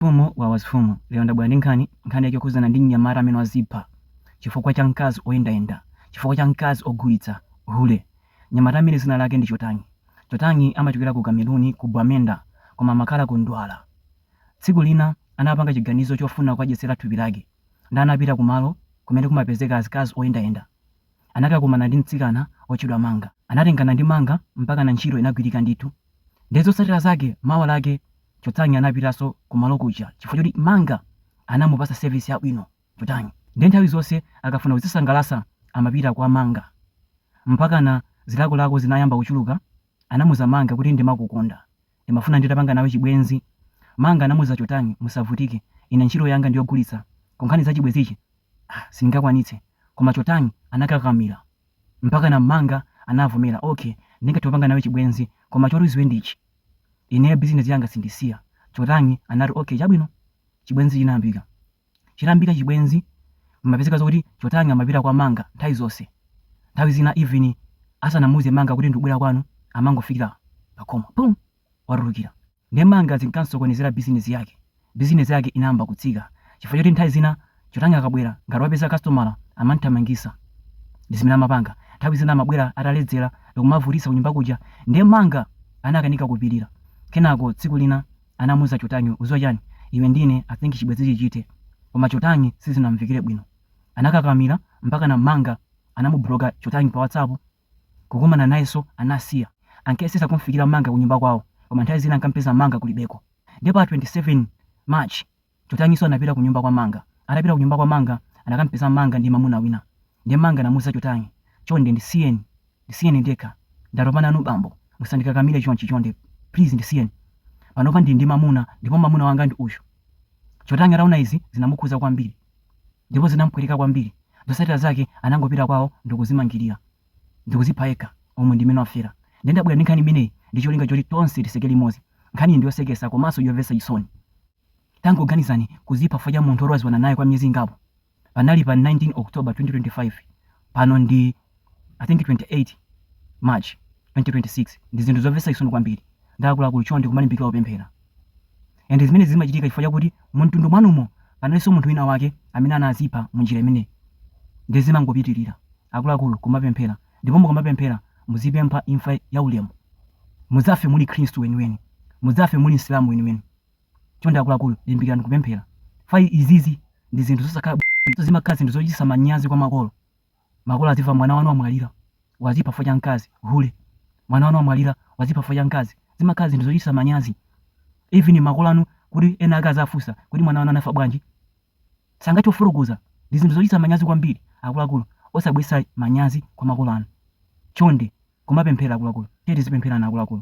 Mfumu wawas Mfumu Lionda abwera ndi nkhani nkhani yake yokhudzana ndi mnyamata amene wazipha chifukwa cha mkazi oyendayenda chifukwa cha mkazi ogulitsa hule mnyamata amene zina lake ndi Chotanyi Chotanyi amachokera ku kameruni ku Bwamenda koma amakhala ku Douala tsiku lina anapanga chiganizo chofuna kukadyetsera thupi lake nde anapita kumalo kumene kumapezeka azikazi oyendayenda anakakumana ndi mtsikana otchedwa Manga. Anatengana ndi Manga mpakana ntchito inagwirika ndithu. Nde zotsatira zake mawa lake Chotanyi anapitaso kumalo kuja chifukwa choti Manga anamupasa service yabwino Chotanyi nde nthawi zonse akafuna kudzisangalasa amapita kwa Manga. Mpakana zilakolako zinayamba kuchuluka anamuza Manga kuti ndimakukonda. Ndimafuna nditapanga nawe chibwenzi. Manga anamuuza Chotanyi musavutike ine ntchito yanga ndiyogulitsa koma nkhani zachibwenzizi ah sindingakwanitse koma Chotanyi anakakakamila mpakana Manga anavomela ok ndingathe kupanga nawe chibwenzi koma choti uziwe ndichi ineyo business yanga sindisiya Chotanyi anati ok chabwino chibwenzi chinayambika. chiyambire chibwenzi zimapezeka zokuti chotanyi amapita kwa manga nthawi zonse nthawi zina even asanamuuze manga kuti ndikubwera kwanu amangofikira pakhomo pum watulukira nde manga zinkansokonezera bizinezi yake bizinezi yake inayamba kutsika chifukwa choti nthawi zina chotanyi akabwera ngati wapeza kasitomala amanthamangisa ndi zimene amapanga nthawi zina amabwera ataledzera ndikumavutisa kunyumba kuja nde manga anakanika kupilira kenako tsiku lina anamuuza Chotanyi uziwa chani iwe ndi ine I think chibwenzichi chithe koma Chotanyi sizinamumvekere bwino anakakamila mpakana Manga anamubuloka Chotanyi pa WhatsApp kukumana nayeso anasiya ankayesesa kumfikira Manga kunyumba kwawo koma nthawi zina ankamupeza Manga kulibeko nde pa 27 March Chotanyiso anapita kunyumba kwa Manga. Atapita kunyumba kwa Manga anakampeza Manga ndi mamuna wina. Ndiye Manga anamuuza Chotanyi, Chonde ndisiyeni, ndisiyeni ndekha. Ndatopa nanu bambo, musandikakamire chonchi chonde please ndisiyeni. Panopa ndili ndi mamuna ndipo mamuna wanga ndi uyu. Chotanyi ataona izi zinamukhudza kwambiri ndipo zinampweteka kwambiri. Zotsatira zake anangopita kwao ndikuzimangilira ndikuzipha yekha. Umu ndimene wafera. Ndiye ndabwera ndi nkhani imeneyi ndi cholinga choti tonse tiseke limodzi. Nkhaniyi ndiyosekesa komanso yomvetsa chisoni. Tangoganizani, kudzipha chifukwa cha munthu woti wadziwana naye kwa miyezi ingapo. Panali pa 19 October 2025, pano ndi I think 28 March 2026. Ndi zinthu zomvetsa chisoni kwambiri. Nde akuluakulu chonde kumalimbikira kupemphera. And zimenezi zimachitika chifukwa chakuti mumtundu mwanumo panalinso munthu wina wake amene anadzipha mu njira imeneyi. Nde zimangopitirira. Akuluakulu kumapemphera. Ndipo mukamapemphera muzipempha imfa yaulemu. Mudzafe muli Khristu weniweni. Mudzafe muli Msilamu weniweni. chonde akuluakulu limbikirani kupemphera fy izizi ndi zinthu zosakhala bwino zimakhala zinthu zochitisa manyazi kwa makolo makolo adziwa mwana wanu wamwalira wazipha fukwa cha mkazi hule mwana wanu wamwalira wazipha fukwa cha mkazi zimakhala zinthu zochitisa manyazi even makolo anu kuti ena ake azafunsa kuti mwana wanu anafa bwanji sangathe kufotokoza ndi zinthu zochitisa manyazi kwambiri akuluakulu osabweresa manyazi kwa makolo anu chonde kumapemphera akuluakulu tiye tizipemphererana akuluakulu